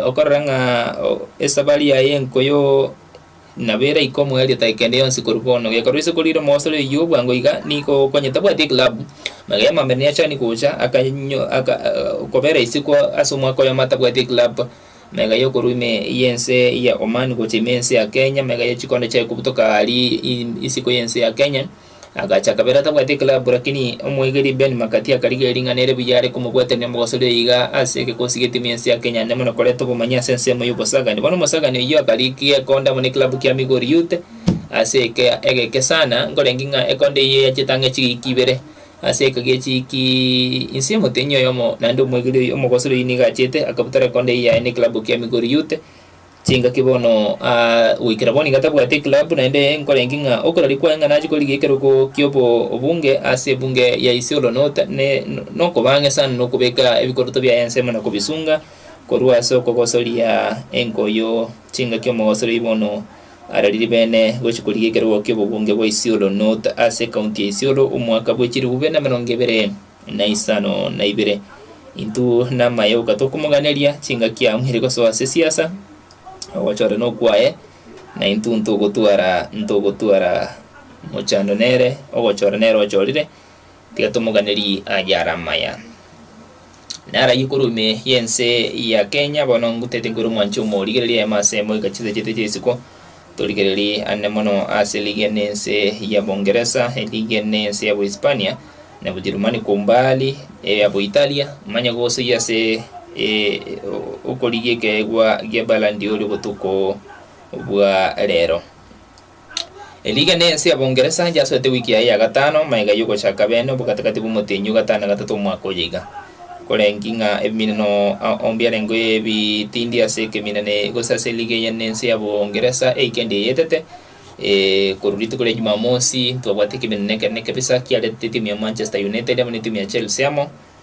okorora ng'a esabari yaye enko yo nabo eraike omoerio tari kende yonsi korwa bono. Gekorwa ase korire omogosori oyio bwango iga nigo okonye tabwati eclub magega amambe niachani gocha akanywa aka kobera isiko ase omwaka oyomo atabwati eclub. mega yokorwa ime y'ense ya Oman gocha ime y'ense ya Kenya, mega ye chikondo chiaye kobutoka aaria i- isiko y'ense ya Kenya. Agacha kabere atabwati eklabu, lakini omoegeri Ben Makati akarigia ering'ana ere buya are komobwaterania omogosorera iga ase egeka osigete ime y'ense ya Kenya, naende mono koreta obomanyi ase ensemo y'obosagani. Bono omosagani oyio akarigia ekonda amo neklabu kia Migori Youth ase eke- egeke sana, nkorengi ng'a ekonda eyio yachete ang'e chigiiki ibere Ase eka giachiiki inse omotenyi oyomo naende omwegeri oyio omogosori oyio nigo achete akabuta rekondo eyio yaye nekilabu kia Migori Youth chingaki bono aa goikera bono nigo atabwati ekilabu naende nkorengi ng'a okoraria kwaye ng'a nachie korigia ekerogo kia obo obunge ase ebunge ya Isiolo not ne nokobang'e sana nokobeka ebikoroto biaye ensemo na kobisunga korwa ase okogosoria enkoyo chingaki omogosori oyio bono Ara riri beene, gochia korigia ekerogo ki'obogonge bwa Isiolo North ase ekaunti ya Isiolo omwaka bwe chilifu bibere na emerongo ebere na isano na ibere. Intwo namaye oka tokomoganeria chingaki amu ere gosoa ase siasa, ogochora nokwaye na intwo ntogotwara ntogotwara mochando nere ogochora nere ochorire. Tiga tomoganeri aye are amaya. Nare ayio korwa ime y'ense ya Kenya bono ngutete nkwere omwanche omo rigereria yaye mase moika chinsechete chia isiko torigereri ane mono ase ligia nense ya Bongeresa eligia nense ya Bohispania na Bojerumani kwa umbali eya Boitalia manya gose iyia ase okorigia ekeegwa gia Balandi oria obotuko bwa rero. Erigena ense ya Bongeresa yasoete wiki yaye ya gatano magega y'ogochaka bene obo gati-gati bw'omotenyi o gatano na gatato omwaka oyo iga. Koreng'ki ng'a ebiminano onde arenge oyo ebitindi ase ekeminane gose ase eriga eye nense ya Bongeresa eye kendi eyetete korwa rituko ria Jumamosi ntwabwate ekeminane ekero ne kebisa kiarete etimu ya Manchester United amo ne etimu ya Chelsea amo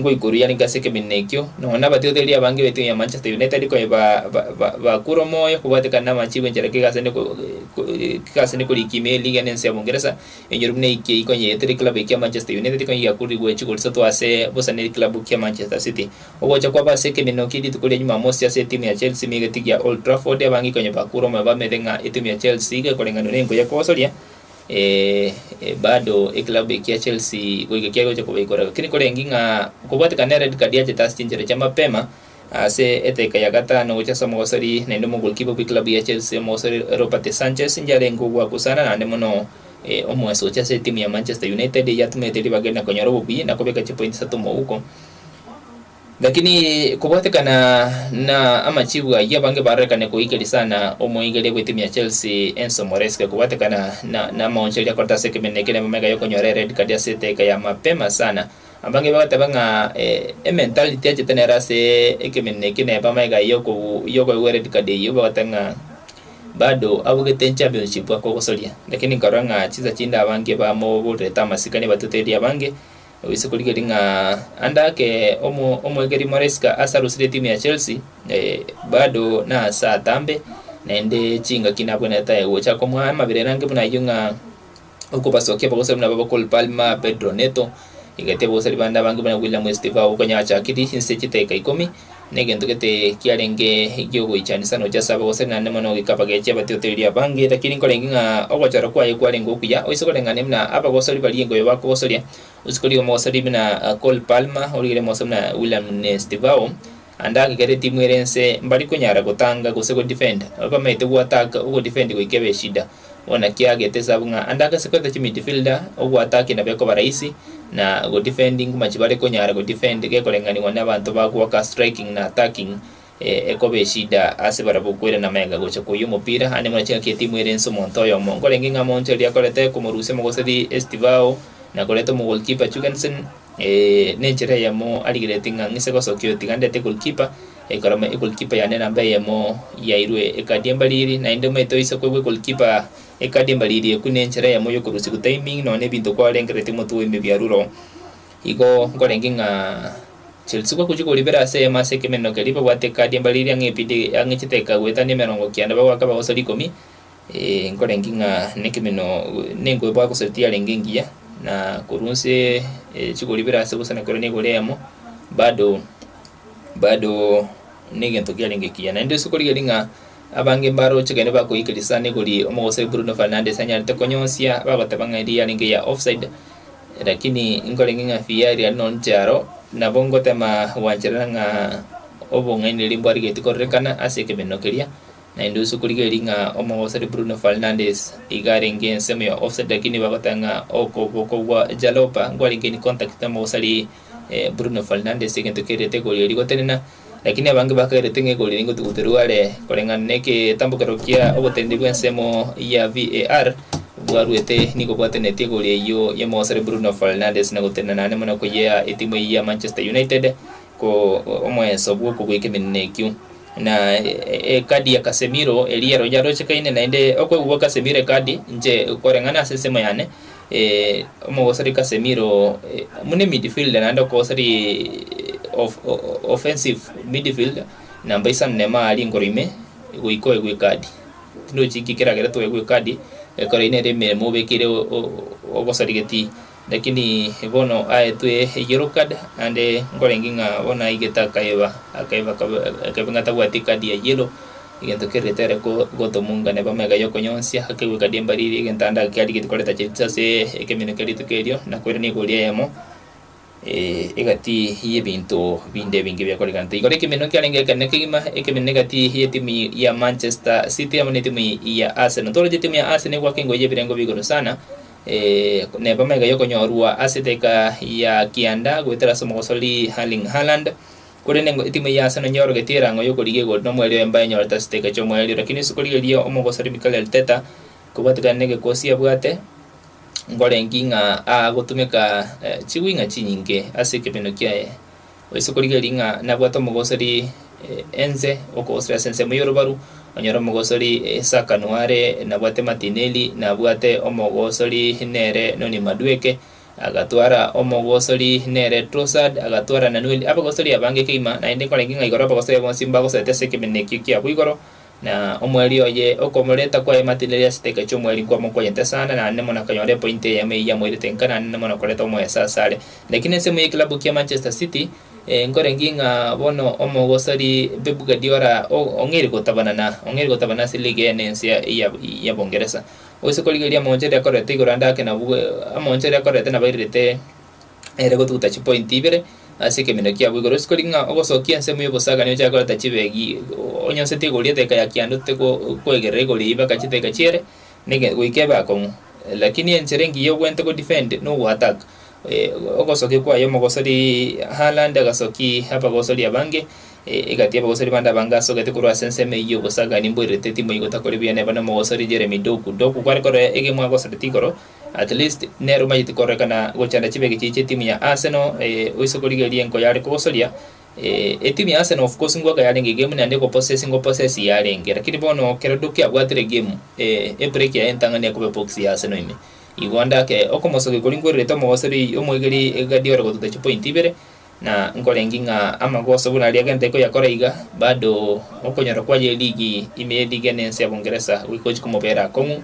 ngoikoruya rink ase ekeminto ekio, nonya nabatigotereria abange b'etuya ya Manchester United konya ba- ba- ba- bakure omoyo kobwate kare namache gwenchera kegasi ase ne ko- ko- kegasi ase koriki ime eliga ene ense ya Obongeresa, enyoro buna eki eyio konya eyetera eclub eye kia Manchester United konya giakoririwe gocha gori satwa ase bosa ne eclub kia Manchester City. Ogocha kwabo ase ekeminto ekio rituko ria Jumamosi ase etimu ya Chelsea ime egetigia Old Trafford, abange konya bakure omoyo bamanyete ng'a etimu ya Chelsea iga ekoreng'anio nenko ya kogosoria, Ee, bado ekilabu ekia Chelsea goika kiagocha kobaikora, gaki korenge ng'a kobwatekana ered card yachete ase chinchera chia mapema ase edaika ya gatano gocha ase omogosori naende omogolkipa bw'ekilabu ya Chelsea omogosori Robert Sanchez inche arenge ogwakusana naende mono omoeso gocha ase etimu ya Manchester United eyio atumete ribaga rinde konyora obobuya na kobeka chipointi isato mouko. Lakini kobwatekana na amachiibu ayio, abange barorekane koigeri sana omoigeri bw'etimu ya Chelsea Enzo Moresca kobwatekana na amaoncho aria akorete ase ekemeneno eke nemo mega y'okonyora ered card ase eteka ya mapema sana. Abange bagateba ng'a ementality achete nere ase ekemeneno eke neba mega y'okoegwa ered card eyio bagote ng'a bado abugete enchampionship akogosoria. Lakini nkarora ng'a chinsa chinde abange bamoborerete amasikani batuteria abange Risiku rigeri ng'a ande ake omwegeri Maresca ase arosire etimu ya Chelsea, bado nase atambe, naende chingaki nabwenerete aye gocha komoa amabera erangi buna ayio ng'a okobasokia abagosori buna babo Cole Palmer, Pedro Neto, egetebi abagosori bande abange buna William Estivao konya achakirie inse chiteka ikomi. Negento gete kiarenge egi'ogoichanisa noche ase abagoseri naende mono goika abagechie abatiotoreri abange. Lakini nkorenge ng'a ogochora kwaye kwarenge okuya, oisogoreng'ane buna abagosori baria engoya bakogosoria. Osikori omogosori buna Cole Palmer, origire omosomba buna William Nestivao, ande agakera etimu ere ense mbari konyara gotanga gose godefend. Bamaete goattack, ogodefend goika ebe eshida. bono kiagete esabu ng'a ande agase koeta chimidfielder ogwataki nabo ekoba rahisi na godefendi nguma chibare konyara godefend gekorenganiwa na abanto ba gwoka striking na attacking eh, ekoba eshida ase barabwo kwerana maega gocha koyia omopira ande muna chingaki etimu ere ense omonto oyomo nkorenge ng'a monto eria akorete komorusia omogoseri Estivao na koreta omogolkipa Jugensen eh, nenchera eyemo arigereti ng'a ng'ise gosokia oyo tiga ndete golkipa Ekorama egolikipa yane namba eyemo yairwe ekadi embariri, naende omanyete oise koigwa egolikipa ekadi embariri ekwe nenchera eyemo yokorusia gotiming nonya ebinto kwarengeretie omotwe owe emebiaruro. Igo nkorenge ng'a Chelsea gwagochia koribera ase eyemo ase ekemeneno keria babwate ekadi embariri ang'e epidi ang'echete eka goetania emerongo kianda bagoaka bagosoria ikomi Ee, nkorengi ng'a nekemeno nenkweboa gose tiarenge engiya, na korwa nse e, chigori bire ase gose nakero negori eyemo, bado bado negento kiarenge ekiya. Naende ase okorigia eri ng'a abange mbaroche kende bakoikeria sana egori omogoso Bruno Fernandes anyarete konyonsia bagoteba ng'a eria yarenge ya offside, lakini nkorenge ng'a VAR yari nonye inche aro nabo ngotema gwancherera ng'a obong'aini riria mbwarigetie kororekana ase ekemeno keria Naende ase okorigereria ng'a omogosori Bruno Fernandes iga arenge ensemo ya offside lakini bagoteba ng'a okoboko gwa Jalloper nkwarenge in contact na omogosari Bruno Fernandes egento kerete egori eria gotenena lakini abange bakaerete ng'a egori eria ngotigoterwa are koreng'ana negetambokero kia oboteneneri bw'ensemo ya VAR bwaruete nigo bwatenenetie egori eyio y'omogosori Bruno Fernandes na gotenena nane mono koyea etimu eyio ya Manchester United ko omoenso bw'okogoika emenena ekio, na ekadi ya Casemiro eria ero yarochekaine, naende okoegwa gwa Casemiro ekadi inche koreng'ana ase ensemo yane eh, omogosori Casemiro eh, buna emidfielder naende okogosori eh, of- o- o- offensive midfielder namba isano na emo aria igoro ime goika oegwe ekadi tindi ochikia ekeragera toegwe ekadi ekero ine ere emeremo obekeire o- o- ogosori geti Lakini bono aetwe eyero card, naende nkorenge ng'a bono aigete akaeba, akaeba akaeba ng'a tabwati card ya yellow, egento keria tere ko gotomunga neba mega yokonyonsia, akegwe card embariri, egento ande ake arigeti koreta chetiso ase ekeminwe kia rituko erio, na koirania egori eyemo, eh, egati y'ebinto binde ebinge biakorekanete. Igoro ekeminwe kiarenge ekenene kegima, ekeminwe egati y'etimu ya Manchester City amo netimu ya Arsenal. Toroche timu ya Arsenal egwaka engoyi y'ebirengo bia igoro sana, Ee, neba maiga y'okonyorwa ase eteeka ya kianda goetera ase omogosori Erling Haaland, korende ngo etimu ya Arsenal nyeorogetie erango y'okorigia igoro na omoerio oyo mbae enyorete ase eteeka ki'omoerio. Lakini ase okorigereria omogosori Mikel Arteta, kobwatekana n'egekosi abwate, nkorengi ng'a agotumeka chigwi ng'a chinyinge ase ekebeno kiaye. Oise korigereria ng'a nabwate omogosori ense, okogosera ase ensemo y'orobaru, onyore omogosori Isaka noare nabwate Matineli, nabwate omogosori nere nonya Madueke, agatwara omogosori nere Trosad, agatwara Nanueli. Abagosori abange keima, naende nkorenge ng'a igoro abagosori abo bonsi mbagoserete ase ekemineko ekio kiabo igoro, Na omweri oye okomoreta kwaye matinere ase etaika chi'omweri nkwamokonyete sana, naende nemo nakanyora epointi eyemo eyio yamoirete nka naende nemo nakoreta omoyesa ase are. Lakini ensemo y'ekilabu kia Manchester City eh, nkorengie ng'a bono omogosori Pep Guardiola o- ong'eire gotabana na ong'eire gotabana ase Liga eye na ense ya ya ya Bongeresa. Oise korigereria amaonchori akorete igoro ande ake nabwo amaonchori akorete nabairerete ere gotuguta chipointi ibere ase ekeminto kiabo igoro. Sikori ng'a ogosokia ensemo y'obosagani ochake koreta chibegi onyonseti igori eteka ya kianda ote kwegerera igori eye baka chiteka chiere nege goika ebe akong'u. Lakini enchera engiya obwenerete go defend nogo attack ogosokia kwaye omogosori Haaland agasoki abagosori abange egati y'abagosori bande abange asogete korwa ase ensemo eyio y'obosagani mboirerete timu eyio gotakore buya neba nomogosori Jeremy Doku. Doku kware korora egemo agosorete igoro. At least nere omanyete kororekana gochanda chibegi chiye chi'etimu ya Arsenal oise korigereria enko yare kogosoria. Etimu ya Arsenal of course ngwaka yarenge egemu naende egopossess ngopossess yarenge lakini bono ekero Doku abwatire egemu ebreak yaye entang'ani ekoba ebox ya Arsenal ime. Igo onde ake okomosokia ekori nkwerorete omogosori omwegeri Guardiola gotuta chipoint ibere na nkorengi ng'a amagoso buna aria egento ekoyakora iga bado okonyora kwaye eligi ime y'eliga enense ya Bungeresa goika ochia komobera akong'u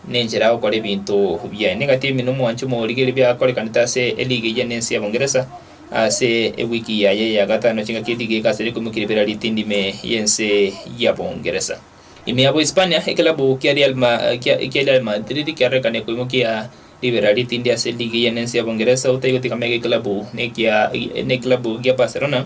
Nenchera agokora ebinto biaye. Nigo tebia buna omwancho omorigereria biakorekanete ase eliga eyia nense ya Bongeresa ase ewiki yaye ya gatano chingaki eliga egasire koimokia ribera ritindi ime yense ya Bongeresa. Ime ya Bohispania, ekelabu kia Real Ma kia kia Real Madrid kiarorekane koimokia ribera ritindi ase eliga eyia nense ya Bongeresa, otaigotigame ege ekelabu nekia nekelabu gia Barcelona,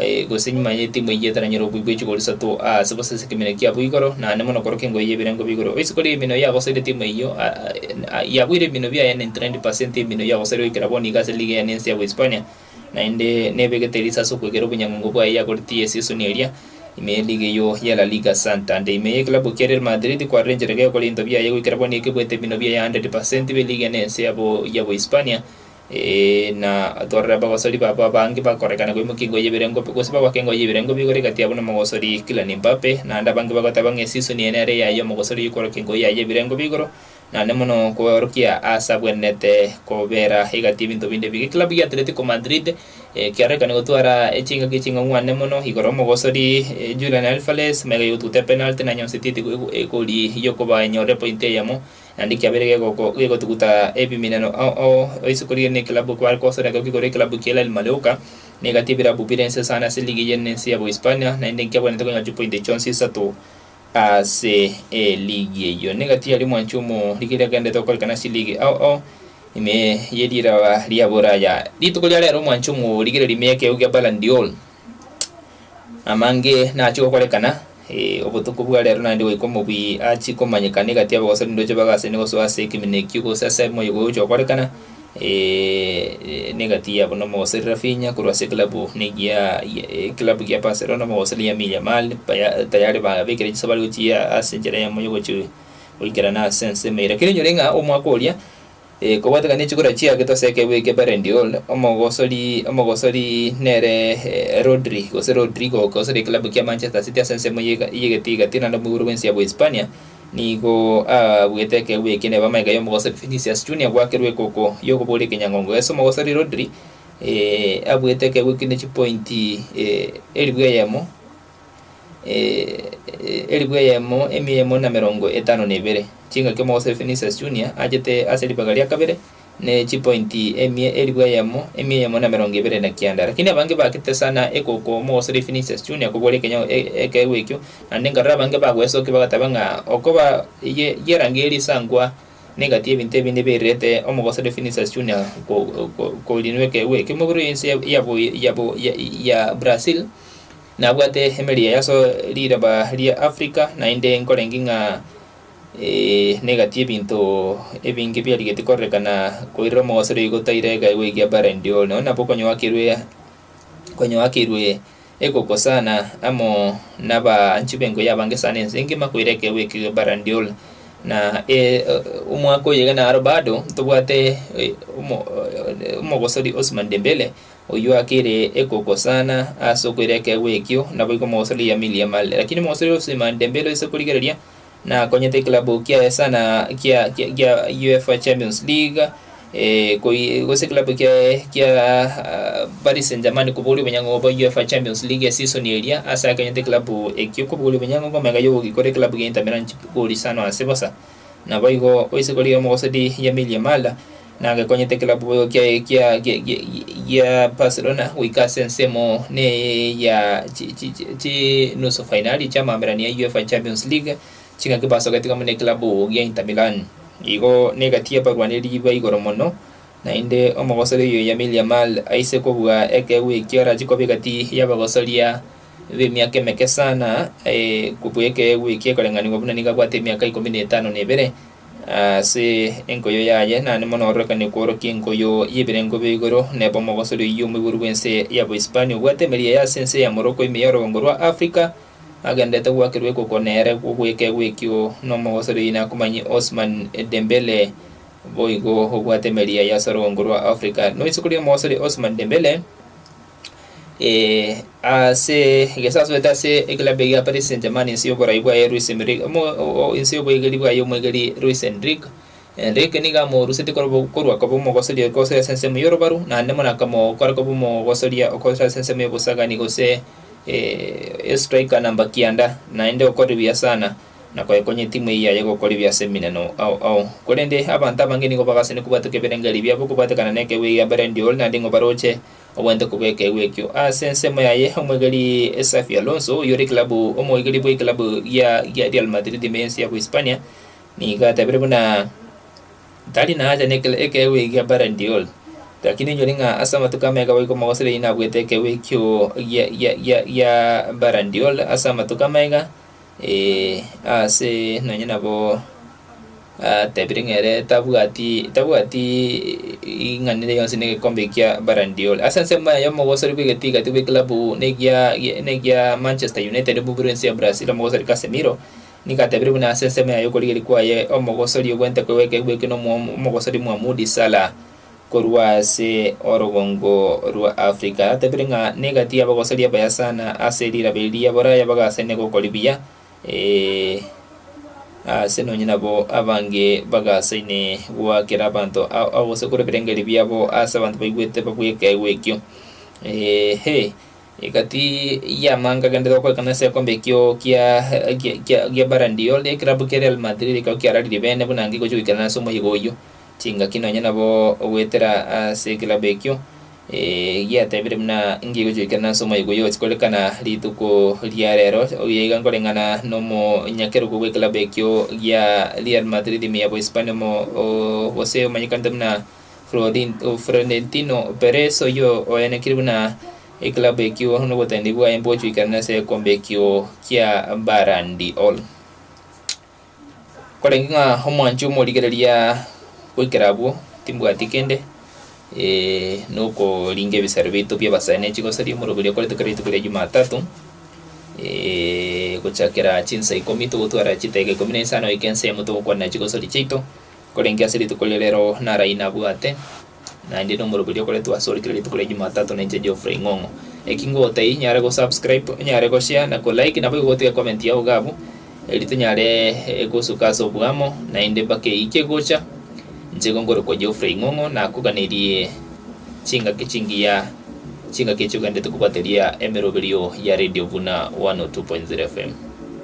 eh, gose nyuma y'etimu eyio etaranyora okoigwa echiko risato aase bosa ase ekemenyo kiabo igoro, naende mono korokio engoye y'ebirengo bigoro. Oise koria eminwe yagosaire etimu eyio, a- a- a- yabuire eminwe biaye 99% y'eminwe yagosaire goikera bono iga ase liga ene ense ya Bohispania, naende nebegete erisa ase okwegera obonyangongo bwaye yagoretie esisoni eria ime ye liga eyio ya La Liga Santander. Ime y'ekilabu kia Real Madrid kwarenchereke gokora into biaye goikera bono ekebuete eminwe biaye 100% bie liga ene ense ya Bo- ya Bohispania, ee, na atwarere abagosori babo abange bakorekana koimokia engoyi y'ebirengo, gose bagoaka engoyi y'ebirengo b'igoro egati yabo nomogosori Kylian Mbappe. Naende abange bagoteba ng'a esisoni eye nere eyaye omogosori oyio kworokia engoyi yaye y'ebirengo b'igoro, naende mono kworokia aase abwenerete kobera egati y'ebinto binde ebiga. Ekilabu gia Atletico Madrid ekiarorekane gotwara chingaki ching'ang'wane mono igoro y'omogosori Julian Alvarez, magega yotuta epenalty, nanyonseti eti egoria y'okoba enyorire epointi eyemo. Naende kiabeire gegotuguta ebiminano ao isiko rigeni ekelabu ekio bare kosoera ekero kigoire ekelabu kia Hilal Malleuca, na egati ebirabu bire ense sana ase ligi y'ene ense ya Bohispania, naende nkiabwanete konyora chipointi chionsi isato ase eligi eyio. Negati yaria omwancho omo rigiya riagenderete gokorekana ase eligi ao ime ye riiraba ria Boraya. Rituko ria rero omwancho omo o rigireria ime y'ekeegwa gia Ballon d'Or Amange nachie gokorekana, ee, obotuko bwa reero naende goika omobui achie komanyekana egati ya abagosori ndoche bagasene gosoa ase ekeminto ekio gose ase moyo gocha gokorekana, ee, na egati yabo na omogosori Raphinha korwa ase eklabu negiaa eklabu gia Barcelona, omogosori Lamine Yamal baya tayari babekire chinsa bare gochia ase enchera yamo ya ogochi goikerana ase ensemo eye. Rakini enyore ng'a omwaka oria. Ee, kobwatekania chikura chia getosi ekebe eke Barendiol, omogosori omogosori nere Rodri, gose Rodrigo, okogosoria ekilabu kia Manchester City ase ensemo ye- y'egete igati, naende omoibori bw'ense ya Bohispania nigo abuete ekebe eke neba amaiga y'omogosori Vinicius Junior gwakerwa ekoko y'okoboria ekenyangongo gese omogosori Rodri, ee, abuete ekebe eke ne chipointi, ee, elifu eyemo. elifu eyemo emia eyemo na emerongo etano na ebere. Chingaki omogoso Vinicius Junior achete ase ribaga ria kabere ne chipointi emia elifu eyemo emia eyemo na emerongo ebere na kianda. Lakini abange bagete sana ekoko omogosoria Vinicius Junior kobwora ekenyao ekeegwa ekio, naende nkarora abange bagwesokia bagateba ng'a okoba ye yerangi ye risankwa negati y'ebinto ebinde birirete omogosoria Vinicius Junior ko ko korinwa ekeegwa ekio. Emobere eye ense ya ya bo ya bo ya ya Brazil. Nabwate emeeri eye aso riraba ria Afrika, naende nkorenge ng'a negatie ebinto ebinge biarigetie kororekana koirera omogosero igo taira egaigwa egia Ballon d'Or. Nonye nabo konyoakerwe konyoakeirwe ekoko sana amo nabaanchi b'engo y'abange sana ense engima koira ekeegwa ekio gia Ballon d'Or. Na omwaka oyo iga naro bado ntobwate omo omogosori Ousmane Dembele Oyio akere ekoko sana ase okoira ekeegwa ekio, naboigo omogosori yamirie Mali. Lakini omogosori Ousmane Dembele oise korigereria, nakonyete ekilabu kiaye sana kia gia UEFA Champions League, gose ekilabu kiaye kia Paris Saint-Germain kobogoria obonyango bwa UEFA Champions League esisoni eria ase akonyete ekilabu ekio kobogoria obonyango, omega yogogikora ekilabu gia Inter Milan chigori isano ase bosa. Naboigo oisegorire omogosodi Yamil Yamal nagekonyete ekilabu boigo kia kia kia kia gia Barcelona goika ase ensemo ne ya chi chi chi chi nusu fainali chia amaamberano ya UEFA Champions League chingaki basogete amo ne ekilabu gia Inter Milan. Igo negati y'abarwaneri ba igoro mono, naende omogosori oyo Yamil Yamal aise kobua ekeegwa ekio arache koba egati y'abagosoria b'emiaka emeke sana, aye kobua ekeegwa eki ekoreng'anigwa buna nigo abwate emiaka ikomi na etano na ebere ase enkoyo yaye, naende mono ororekane kworokia enkoyo y'ebirengo bia igoro, neba omogosoria oyio omoiboru bw'ense ya Bohispania obwate emeeri eye ase ense ya Morocco ime ya orogongo rwa Africa, agendererete goakerwa ekoko nere kobua ekeegwa ekio n'omogosoria oyio nakomanyie Ousmane Dembele boigo obwate emeeri eye ase orogongo rwa Africa. Noise koria omogosoria Ousmane Dembele? Eh, ase egesaso asubete ase ekilabu egia Paris Saint-Germain inse y'oborai bwaye Luis Enrique omo o- inse y'oboigeri bwaye omwegeri Luis Enrique Enrique nigo amorusetie korobo- korwa koba omogosoria okosoria ase ensemo y'orobaru naende mono akamokora koba omogosoria okosoria ase ensemo y'obosagani gose eh, estriker namba kianda naende okore buya sana na koekonya etimu eye yaye gokora ebiya ase eminano ao ao korende abanto abange nigo bagasanire kobwatwa ekeberengerio ebiabo kobwatekana na ekegwegio gia Ballon d'Or naende nigo baroche Obwenerete kobeka egwe ekio ase ensemo yaye omoegeri Xabi Alonso, oyore ekilabu omoegeri bwe ekilabu gia gia Real Madrid ime ense ya Bohispania, nigo atabire buna tari na haja nekela ekeegwa eki gia Ballon d'Or. Lakini enyori ng'a ase amatuko amaya ekaba iko Mogosere yainabuete ekeegwa ekio gia gia gia gia Ballon d'Or ase amatuko amaya iga, Eh, ase nonye nabo atebire ng'a ere tabwati tabwati ing'anire yonsi na egekombe ekia Ballon d'Or. Ase ensemo eye omogosori bw'egetigati bw'ekilabu negia negia Manchester United mu biro ense ya Brazil omogosori Casemiro nigo atebire buna ase ensemo yaye okorigeria kwaye omogosori ogw'enteko egwekegwa eke na omo- omogosori mwa Moody Salah korwa ase orogongo rwa Afrika, aratebire ng'a negati y'abagosaria abaya sana ase riirabe eri ria Boraya bagasaine gokori buya, ee, aase nonye nabo abange bagasaine goakera abanto ao ao gose kore ebirengererio biabo ase abanto baigwete babua ekeegwa ekio. Eehe, egati y'amanga agenderete gokorekana ase egekombe ekio kia kia kia Ballon d'Or, ekerabu kia Real Madrid ekero kiararirie bene buna ngigachia goikerana ase omoyega oyio. Chingaki nonya nabo ogoetera ase ekelabo ekio giatebire buna inki egochorikana ase omoerio oyio. Chikoririkana rituko ria reero oria iga nkoreng'ana nomonyakerogo bw'ekelabo ekio gia Real Madrid ime ya Bohispania omo gose omanyekanete buna Florentino Perez oyio oyanekire buna ekelabo ekio noboteneneri bwaye mbogochorikana ase egekombe ekio kia Ballon d'Or. Korende ng'a omwanche omorigereria goikera abwo, timbwati kende, eh, nokoringa ebisare biaito bi'abasae ne chigosaria omorero oria okoretwe kera rituko ria Jumatatu, gochakera chinsa ikomi togotwara chitaiga ikomi na isano goika ensemo togokwanera chigosaria chiaito. Korende ase rituko ria rero narai nabwate naende nomoroberio okoretwe ase ore kera rituko ria Jumatatu nainche Geoffrey Ng'ong'o. Eki ngogoteyi nyare go subscribe, onyare go share na ko like naboigo gotiga ecomment yao iga abwo eri tonyare eh, gosuka ase oboamo naende mpaka eyio kegocha. Inche igo nkorokwa Geoffrey Ng'ong'o nakoganerie chingaki chingiya chingaki echi ogenderete kobwateria emeroberio ya Radio Buna 102.0 FM.